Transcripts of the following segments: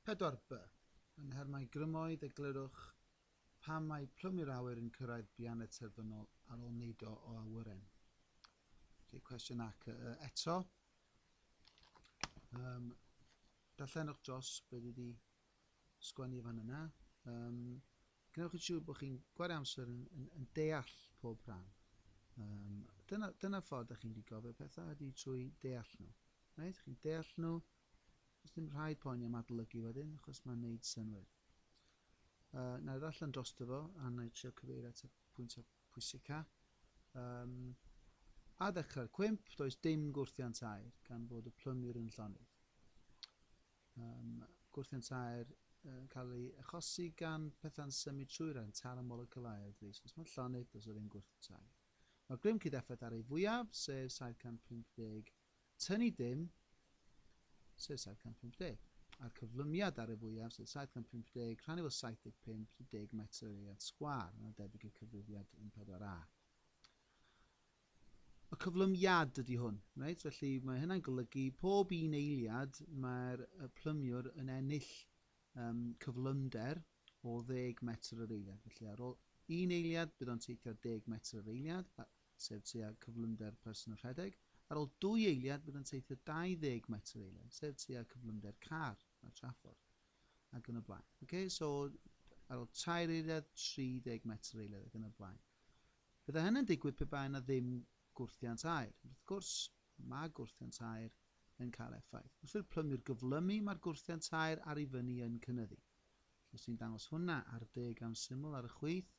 Pedwar by, yn her mai grymoedd eglurwch pam mae plwm i'r awyr yn cyrraedd bian y terfynol ar ol neud o o awyren. Felly cwestiwn ac y y eto. Um, darllenwch dros beth wedi sgwennu fan yna. Um, Gwnewch yn siŵr bod chi'n gwario amser yn, yn, yn deall pob rhan. Um, dyna, dyna ffordd ydych chi'n mynd i gofio pethau, ydy trwy deall nhw. Right? Chi'n deall nhw, Does dim rhaid poeni am adolygu wedyn, achos mae'n neud synwyr. Uh, na i ddarllen drosto fo, a na i trio cyfeirio at y pwyntiau pwysica. Um, a ddechrau'r cwymp, does dim gwrthiant air, gan bod y plymir yn llonydd. Um, gwrthiant air yn cael ei achosi gan pethau'n symud trwy'r rhan tar y moleculau air dris. Os mae'n llonydd, does o ddim gwrthiant air. Mae'r grym cyd-effaith ar ei fwyaf, sef 750 Tynnu dim, sef 750, a'r cyflymiad ar y fwyaf, sef 750, rhannu fo 75, 30 metr yr eiliad sgwâr, yna debyg i'r cyfrifiad 14A. Y cyflymiad ydy hwn, reit? felly mae hynna'n golygu pob un eiliad mae'r plymiwr yn ennill um, cyflymder o ddeg metr yr eiliad. Felly ar ôl un eiliad, bydd o'n teithio deg metr yr eiliad, sef tua cyflymder person yn rhedeg. Ar ôl dwy eiliad, bydd o'n teithio 20 metr yr eiliad, sef tua cyflymder car ar traffordd, ac yn y blaen. Okay? So, ar ôl tair eiliad, 30 metr yr eiliad, ac yn y blaen. Bydde hynny'n digwydd pe bai yna ddim gwrthiant aer. Wrth gwrs, mae gwrthiant aer yn cael effaith. Wrth i'r plymir gyflymu, mae'r gwrthiant aer ar ei fyny yn cynnyddu. Os ti'n dangos hwnna ar dy gan syml ar y chwith,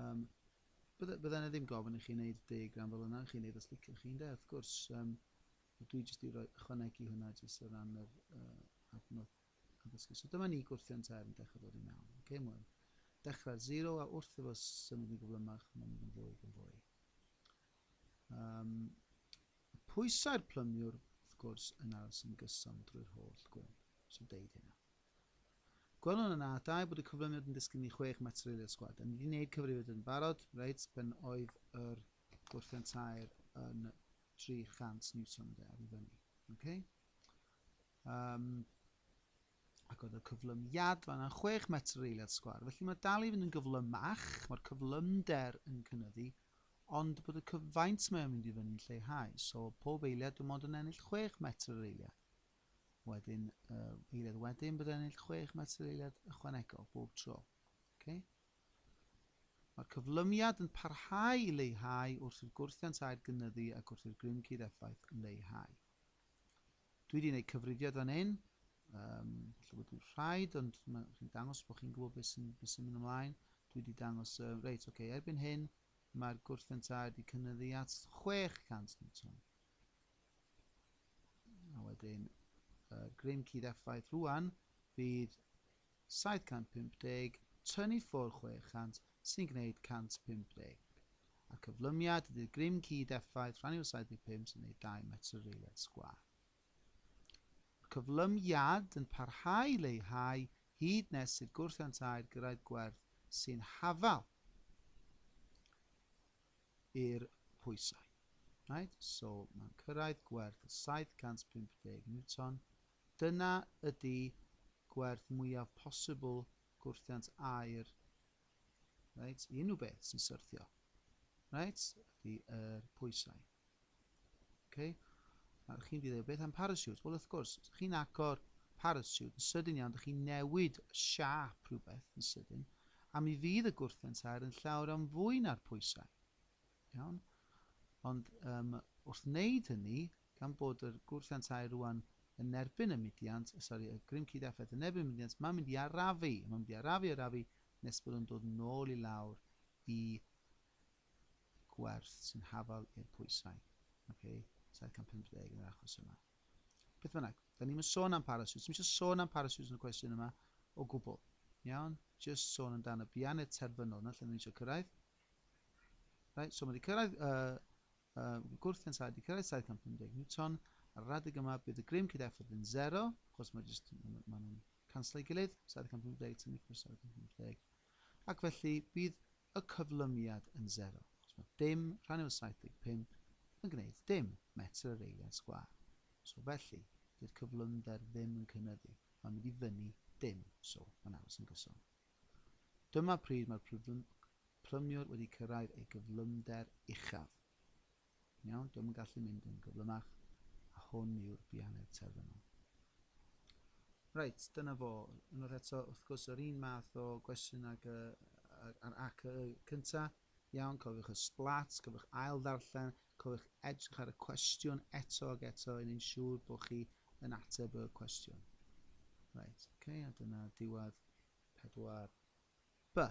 um, bydde, bydde yna ddim gofyn i chi wneud y deg ran fel yna, chi'n wneud os liciwch chi'n de, wrth gwrs. Um, dwi jyst i roi ychwanegu hwnna jyst o ran yr uh, adnodd addysgu. So dyma ni gwrthio'n term dechrau dod i mewn. Okay, mwy. Dechrau'r zero a wrth efo symud yn gyflymach, mae'n mynd yn fwy yn fwy. Um, Mae pwysau'r plymiwr, wrth gwrs, yn ail sy'n gyson drwy'r holl gwyn, os y deud hynna. Gwelwn yn A2 bod y cyflyniad yn disgyn i chwech metr i'r sgwad. Da ni wedi gwneud cyfrifiad yn barod, reit, pen oedd yr gwrthfan tair yn 300 Newton de, ar i fyny. Okay? Um, Ac oedd y cyflymiad fan'na chwech metr yr eiliad sgwâr. Felly mae dal i fynd yn gyflymach, mae'r cyflymder yn cynyddu, ond bod y cyfaint mae o'n mynd i fyny'n lleihau. So pob eiliad dwi'n mond yn ennill chwech metr yr eiliad. Wedyn, uh, eiliad wedyn bydd ennill chwech metr yr eiliad ychwanegol bob tro. Okay? Mae'r cyflymiad yn parhau i leihau wrth i'r gwrthiant aer gynyddu ac wrth i'r grym cyd effaith leihau. Dwi wedi gwneud cyfrifiad fan hyn, um, lle bod dwi'n rhaid, ond chi'n dangos bod chi'n gwybod beth sy'n sy mynd ymlaen. Dwi wedi dangos, uh, reit, oce, okay, erbyn hyn, mae'r gwrthfent A wedi cynnyddu at 600 newton. A wedyn, uh, grym cudd effaith rwan fydd 750 tun i ffwrdd 600 sy'n gwneud 150, a'r cyflymiad ydy'r grym cyd effaith rhannu o'r 75 sy'n gwneud 2 metr yr eiliad sgwâr. Mae'r cyflymiad yn parhau i leihau hyd nes i'r gwrthiant aer gyrraedd gwerth sy'n hafal i'r pwysau. Right? So mae'n cyrraedd gwerth o 750 Newton Dyna ydi gwerth mwyaf posibl gwrthiant aer, reit, i unrhyw beth sy'n syrthio, reit, ydi yr pwysau. Okay? Nawr, chi'n fi ddeud beth am parasiwt? Wel, wrth gwrs, os chi'n agor parasiwt yn sydyn iawn, ydych chi'n newid y siap rhywbeth yn sydyn, a mi fydd y gwrthiant aer yn llawer am fwy na'r pwysau. Iawn? Ond um, wrth wneud hynny, gan bod y gwrthiantau rŵan yn erbyn y mudiant, sori, y grym cyd-effaith yn erbyn y mudiant, mae'n mynd i arafu, mae'n mynd i arafu, arafu, nes bod yn dod nôl i lawr i gwerth sy'n hafal i'r pwysau. Okay? 750 yn yr achos yma. Beth bynnag, da ni'n sôn am parasiwt. Ddim eisiau sôn am parasiwt yn y cwestiwn yma o gwbl. Iawn? Just sôn yn dan y bianed terfynol yna lle ni'n eisiau cyrraedd. Right, so mae wedi cyrraedd uh, Y gwrth yn saith wedi cyrraedd 750 Newton, ar yr adeg yma bydd y grym cyd effaith yn zero, achos mae jyst, maen nhw'n canslo ei gilydd, 750 tynnu cwrs 750, ac felly bydd y cyflymiad yn zero, achos mae dim rhan yw 75 yn gwneud dim, metr yr eiliad sgwâr. So felly, dy'r cyflymder ddim yn cynyddu, mae'n mynd i fyny dim, so mae'n aros yn gyson. Dyma pryd mae'r prymiwr wedi cyrraedd ei gyflymder uchaf. Yn iawn, dio'm yn gallu mynd yn gyflymach, a hwn yw'r bianedd terfynol. Reit, dyna fo. Unwaith eto, wrth gwrs, yr un math o gwestiwn ag y, a'r ac y cynta. Iawn, cofiwch y splats, cofiwch ail ddarllen, Cofiwch edrych ar y cwestiwn eto ac eto i wneud siŵr bod chi yn ateb y cwestiwn. Reit, okay, a dyna diwedd 4B.